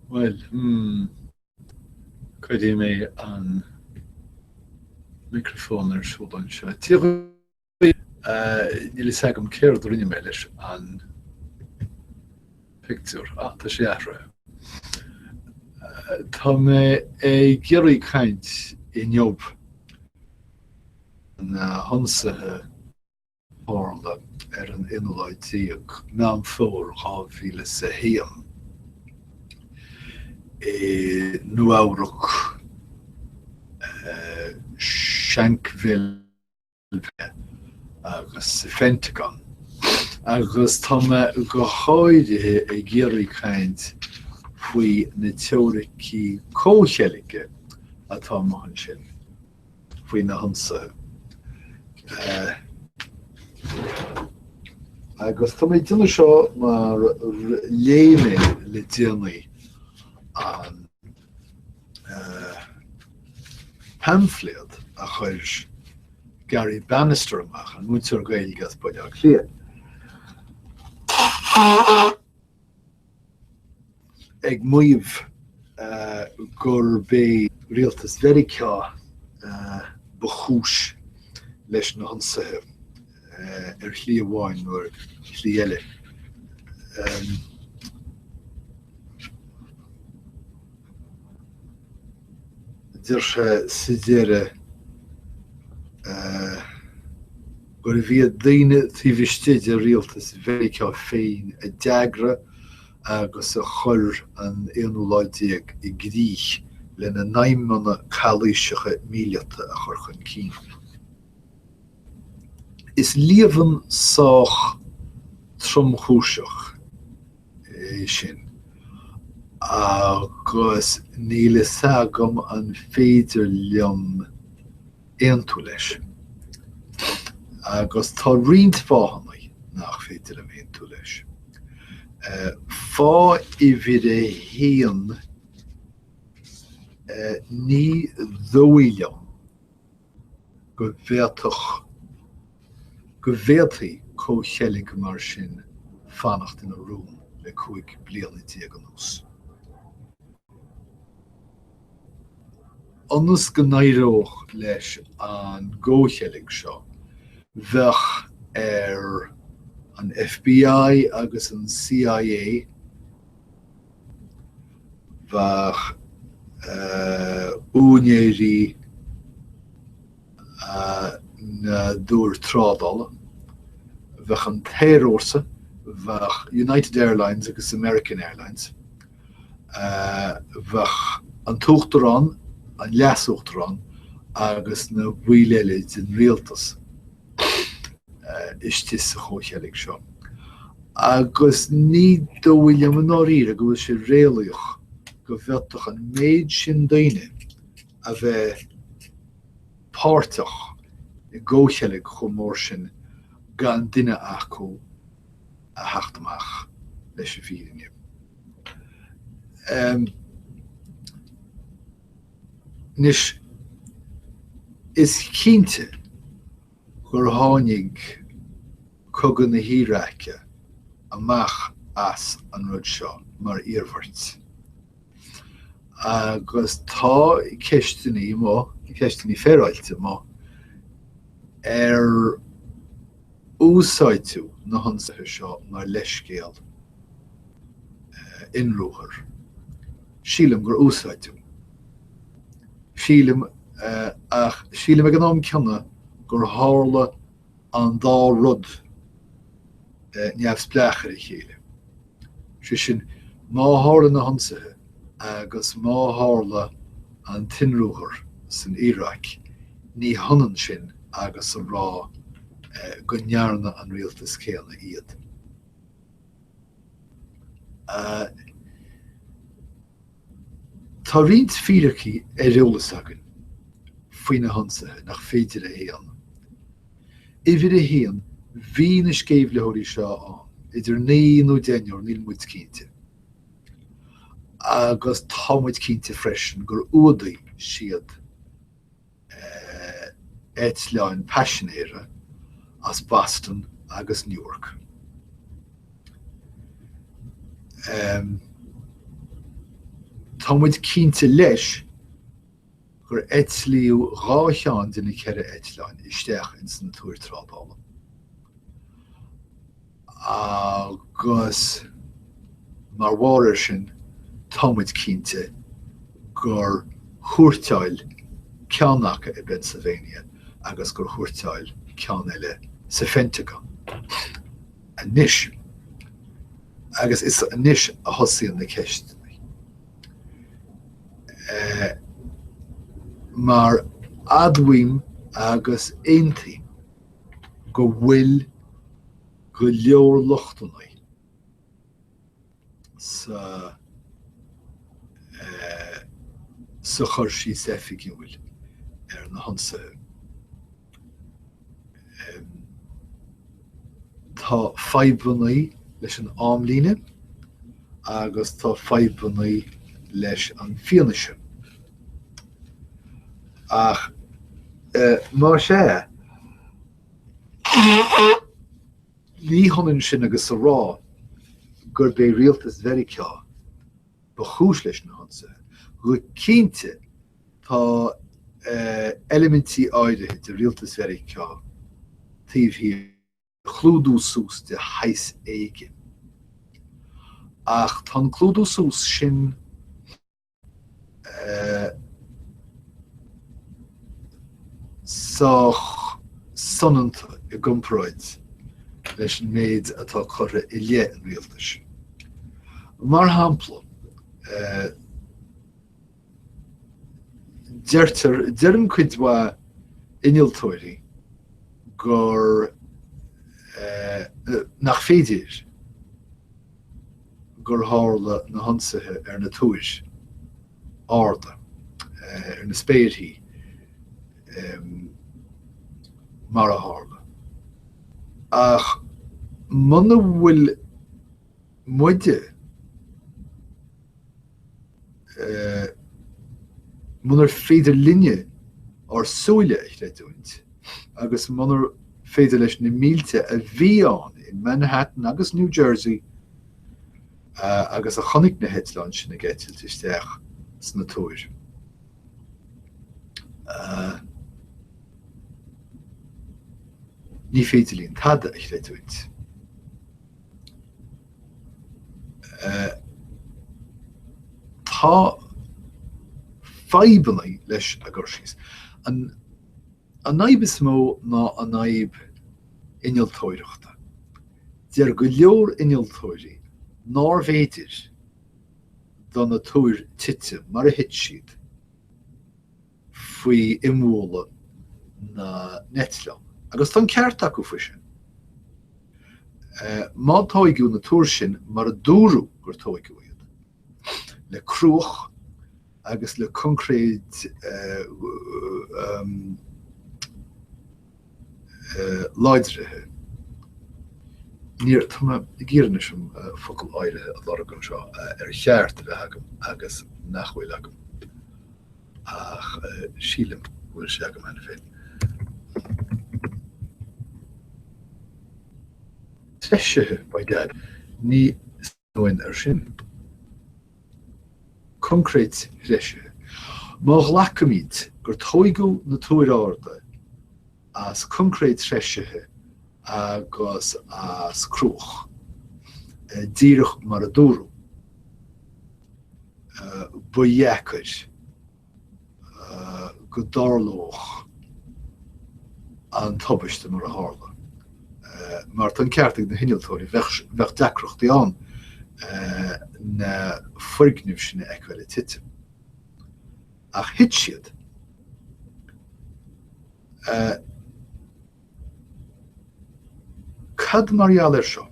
Bhuel, hmm, cuirfidh mé an micreafón ar siúl anseo. Tá, níl fhios agam céard a rinne mé leis an pictiúr ach tá sé athraithe. Tá mé ag iarraidh caint inniu faoi na hionsaithe. a tharla ar an 11ú Meán Fómhair 2001, i Nua-Eabhrac, Shanksville agus sa Phentagon, agus tá mé go háirithe ag iarraidh caint faoi na teoiricí comhcheilge atá amuigh ansin. faoi na hionsaithe. Agus tá mé ag déanamh seo mar léigh mé le déanaí an paimfléad a chuir Gary Bannister amach, an múinteoir Gaeilge as Baile Átha Cliath. ag maíomh gurb é rialtas Mheiriceá ba chúis leis na hionsaithe, ar shlí amháin nó ar shlí eile. Deir sé sa deireadh. gurbh iad daoine taobh istigh de rialtas Mheiriceá féin a d'eagraigh agus a chuir an aonú lá déag i gcrích lena n-aidhmeanna calaoiseacha míleata a chur chun cinn. Is líomhain sách tromchúiseach. é sin. Agus níl fhios agam an féidir liom aontú leis. Agus tá roinnt fáthanna nach féidir liom aontú leis. Fáth uimhir a haon, ní dhóigh liom go bhféadfadh, go bhféadfaí comhcheilg mar sin fanacht ina rún le cúig bliana déag anuas. Ionas go n-éireodh leis an gcomhcheilg seo, bheadh ar an FBI agus an CIA, Bheadh úinéirí na dtúr trádála, bheadh an t-aerfhórsa, bheadh United Airlines agus American Airlines, bheadh an t-uachtarán, an leas-uachtarán agus na baill eile den rialtas. istigh sa chomhcheilg seo. Agus ní dóigh liom i ndáiríre go bhfuil sé réalaíoch go bhfeadfadh an méid sin daoine a bheith páirteach i gcomhcheilg chomh mór sin gan duine acu a theacht amach leis an bhfírinne. Anois, is cinnte gur tháinig Cogadh na hIaráice amach as an rud seo mar iarmhairt. Agus tá ceisteannaí amuigh, ceisteannaí féaráilte amuigh, ar úsáideadh na hionsaithe seo mar leithscéal inruathar. Sílim gur úsáideadh. Sílim, ach sílim ag an am ceanna gur tharla an dá rud neamhspleách ar a chéile. Sé sin, má tharla na hionsaithe agus má tharla an t-inruathar san Iaráic, ní hionann sin agus a rá go ndearna an rialtas céanna iad. Tá roinnt fíricí ar eolas againn faoi na hionsaithe nach féidir a shéanadh. Uimhir a haon, bhí na sceimhlitheoirí seo ann idir naoi nó deichniúr, níl muid cinnte. Agus tá muid cinnte freisin gur fhuadaigh siad. eitleáin paisinéara as Boston agus Newark. Tá muid cinnte leis gur eitlíodh dhá cheann de na ceithre eitleáin isteach ins na Túir Trádála. agus mar bharr ar sin tá muid cinnte gur thuairteáil ceann aca i bPennsylvania agus gur thuairteáil ceann eile sa Phentagon. Anois, agus is anois a thosaíonn na ceisteanna. Eh, mar admhaím agus aontaím go bhfuil go leor lochtanna sa sa chur síos oifigiúil ar na hionsaithe. Tá fadhbanna leis an amlíne agus tá fadhbanna leis an fianaise. Ach mar sin féin, ní hionann sin agus a rá gurb é rialtas Mheiriceá ba chúis leis na hionsaithe. Go cinnte, tá eilimintí áirithe de rialtas Mheiriceá taobh thiar de chlúdú suas de shaghas éigin. Ach tá an clúdú suas sin sách soineanta i gcomparáid leis an méid atá curtha i leith an rialtais. Mar shampla, deirtear, deireann cuid mhaith innealtóirí gur nach féidir gur tharla na hionsaithe ar na túir arda, ar na spéirthí, mar a tharla. Ach muna bhfuil muide. munar féidir linne ár súile a chreidiúint agus munar féidir leis na mílte a bhí ann in Manhattan agus New Jersey agus a chonaic na heitleáin sin ag eitilt isteach sna túir. Ní féidir linn tada a chreidiúint. Tá fadhbanna leis an gcur síos. An fhadhb is mó ná an fhadhb innealtóireachta. Deir go leor innealtóirí nárbh fhéidir do na túir titim mar a thit siad. faoi imbhualadh na n-eitleán, agus tá an ceart acu faoi sin. Má tóigeadh na túir sin mar a dúradh gur tóigeadh iad, le cruach agus le concréid, láidrithe. Ní, ó, tá mé ag iarraidh anois an focal áirithe a lorg anseo ar cheart a bheith agam agus nach bhfuil agam ach sílim go bhfuil sé agam cheana féin. Treisithe, by dad. Ní B'in air sin. Coincréit threisithe. Má ghlacaimid gur tóigeadh na Túir Arda as coincréit threisithe agus as cruach, díreach mar a dúradh, ba dheacair. go dtarlódh an tubaiste mar a tharla, mar tá an ceart ag na hinnealtóirí, bheadh deacrachtaí ann na foirgnimh sin a fheiceáil tite. Ach thit siad, e. Cad mar gheall air seo?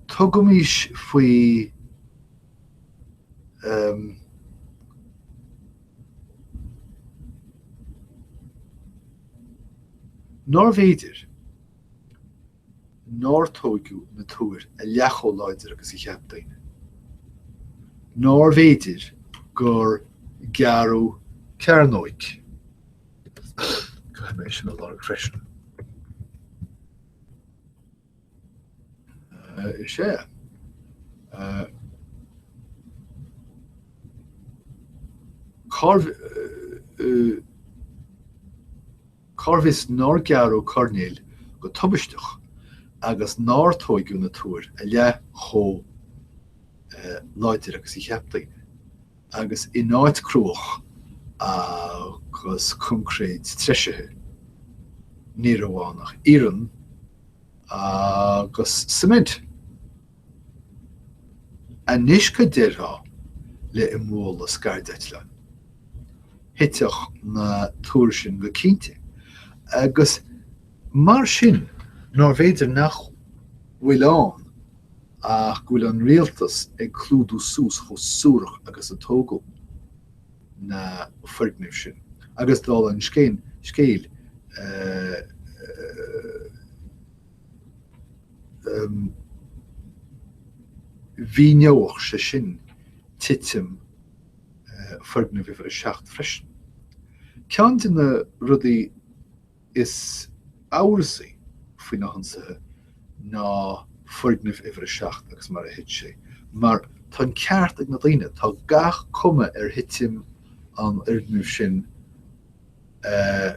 Tugaimis faoi nárbh fhéidir. nár tóigeadh na túir a leath chomh láidir agus a cheap daoine, nárbh fhéidir gur gearradh coirnéil, caithfidh mé é sin a lorg freisin, is ea, cárbh. Cá bhfios nár gearradh coirnéil go tubaisteach agus nár tóigeadh na túir a leath chomh láidir agus a cheap daoine, agus in áit cruach agus coincréid treisithe, ní raibh ann ach iarann agus suimint. Anois cad déarfá le, i mbualadh le scairdeitleán. Thuitfeadh na túir sin go cinnte. Agus mar sin nárbh fhéidir nach bhfuil ann ach go bhfuil an rialtas ag clúdú suas chomh suarach agus a tóigeadh na foirgnimh sin. Agus dála an scéin, scéil, eh, mhíneodh sé sin titim foirgneamh uimhir a seacht freisin. Ceann de na rudaí is amhrasaí faoi na hionsaithe ná foirgneamh uimhir a seacht agus mar a thit sé. Mar tá an ceart ag na daoine, tá gach cuma ar thitim an fhoirgnimh sin a.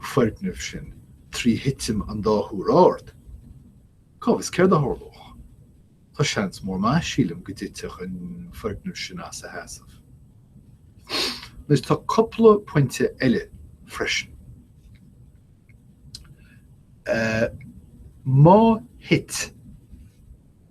foirgneamh sin trí thitim an dá thúr ard? Cá bhfios céard a tharlódh? Tá seans mór maith, sílim, go dtitfeadh an foirgneamh sin as a sheasamh. Anois, tá cupla pointe eile freisin. Má thit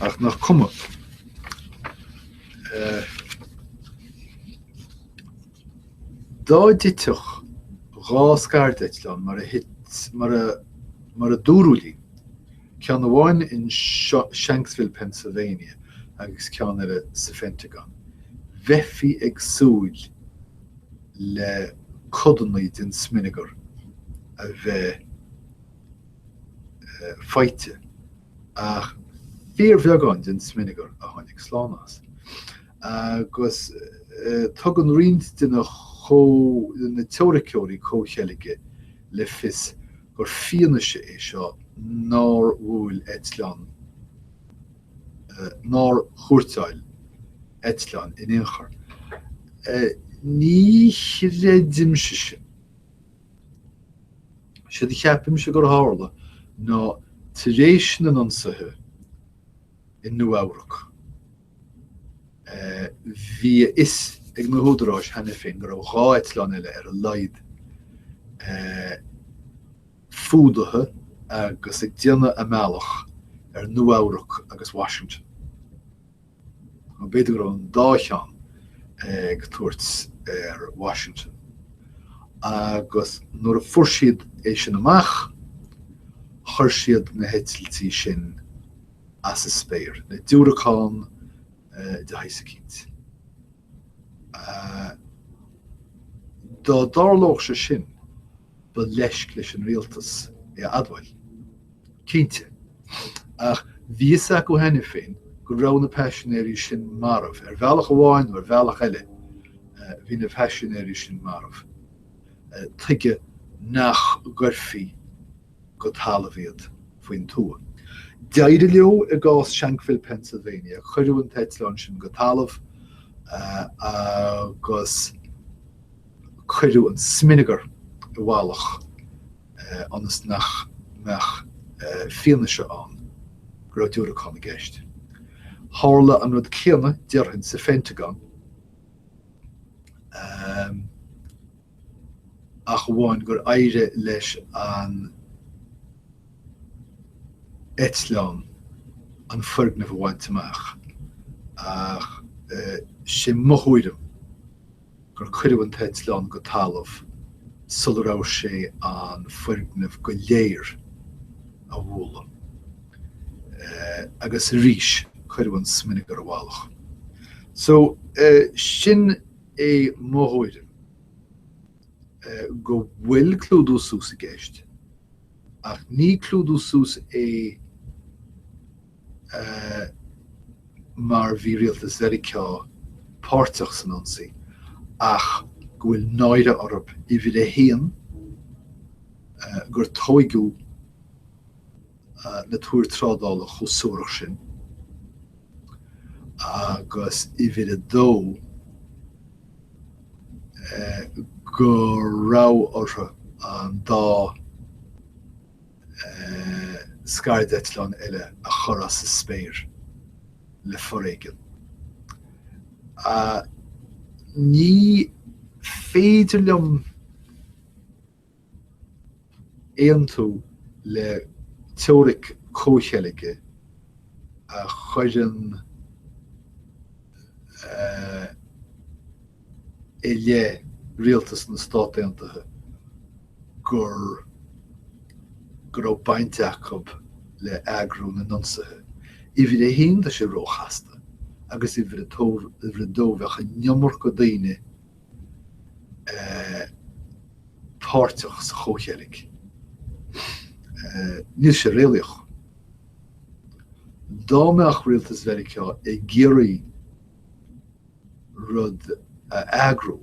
Ach nach cuma dá dtitfeadh dhá scairdeitleán mar a thit, mar a dúradh linn, ceann amháin i Shanksville, Pennsylvania agus ceann eile sa Phentagon, bheifí ag súil le codanna den smionagar a bheith faighte. ach fíorbheagán den smionagar a tháinig slán as, agus tugann roinnt de na teoiriceoirí comhcheilge le fios gur fianaise é seo nár bhuail eitleán nár thuairteáil eitleán in aon chor. Ní chreidimse sin. Séard a cheapaimse gur tharla ná tar éis na n-ionsaithe i Nua-Eabhrac bhí a fhios ag na húdaráis cheana féin go raibh dhá eitleán eile ar a laghad fuadaithe agus ag déanamh a mbealach ar Nua-Eabhrac agus Washington. Nó b'fhéidir go raibh an dá cheann ag tabhairt ar Washington. Agus nuair a fuair siad é sin amach, chuir siad na heitiltí sin as a spéir, le diúracán de shaghas eicínt. Dá dtarlódh sé sin, Ba leisc leis an Rialtas é a admháil, cinnte, ach bhí fhios acu cheana féin go raibh na paisinéirí sin marbh, ar bhealach amháin nó ar bhealach eile bhí na paisinéirí sin marbh. Tuige nach gcuirfí go talamh iad faoin tuath. D'éirigh leo i gcás Shanksville, Pennsylvania, cuireadh an t-eitleán sin go talamh agus. Cuireadh an smionagar i bhfalach ionas nach mbeadh fianaise ann go raibh diúracán i gceist. Tharla an rud céanna, déarfainn, sa Phentagon, ach amháin gur éirigh leis an eitleán an foirgneamh a bhaint amach. Ach sin mo thuairim. gur cuireadh an t-eitleán go talamh sula raibh sé in ann an foirgneamh go léir a bhualadh, agus arís cuireadh an smionagar i bhfalach. So, sin é mo thuairim, go bhfuil clúdú suas i gceist, ach ní clúdú suas é ii, mar bhí rialtas Mheiriceá páirteach san ionsaí ach go bhfuil náire orthu, uimhir a haon, gur tóigeadh na túir trádála chomh suarach sin agus, uimhir a dó, go raibh orthu an dá. scairdeitleán eile a chur as a spéir le foréigean. Ní féidir liom aontú le teoiric comhcheilge a chuireann i leith rialtas na Stát Aontaithe go raibh baint acu le eagrú na n-ionsaithe. Uimhir a haon, tá sé ró-chasta agus uimhir a dó, bheadh an iomarca daoine páirteach sa chomhcheilg. Níl sé réalaíoch. Dá mbeadh rialtas Mheiriceá ag iarraidh rud a eagrú.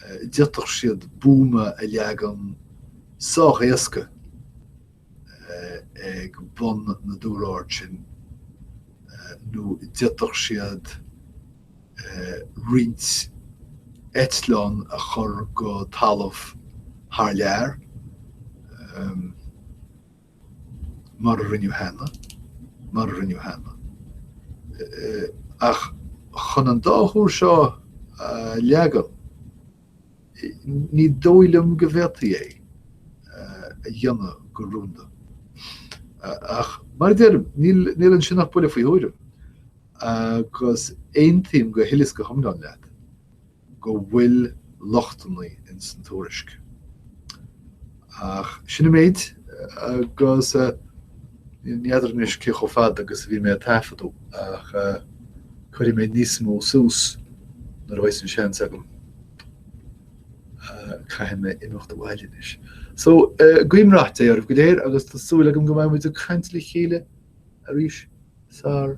D'fhéadfadh siad buama a leagan sách éasca ag bun na dtúr ard sin nó d'fhéadfadh siad roinnt eitleán a chur go talamh thar lear. mar a rinneadh cheana, mar a rinneadh cheana. Ach chun an dá thúr seo a leagan, ní dóigh liom go bhféadfaí é a dhéanamh go rúnda. Ach mar a deirim, níl ansin ach buille faoi thuairim, agus aontaím go huile is go hiomlán leat. go bhfuil lochtannaí ins an tuairisc. Ach sin an méid agus ní fheadar anois cé chomh fada agus a bhí mé ag taifeadadh ach cuirfidh mé níos mó suas nuair a bheidh an seans agam. Caithfidh mé imeacht abhaile anois. So, guím rath Dé oraibh go léir agus tá súil agam go mbeidh muid ag caint le chéile arís sar.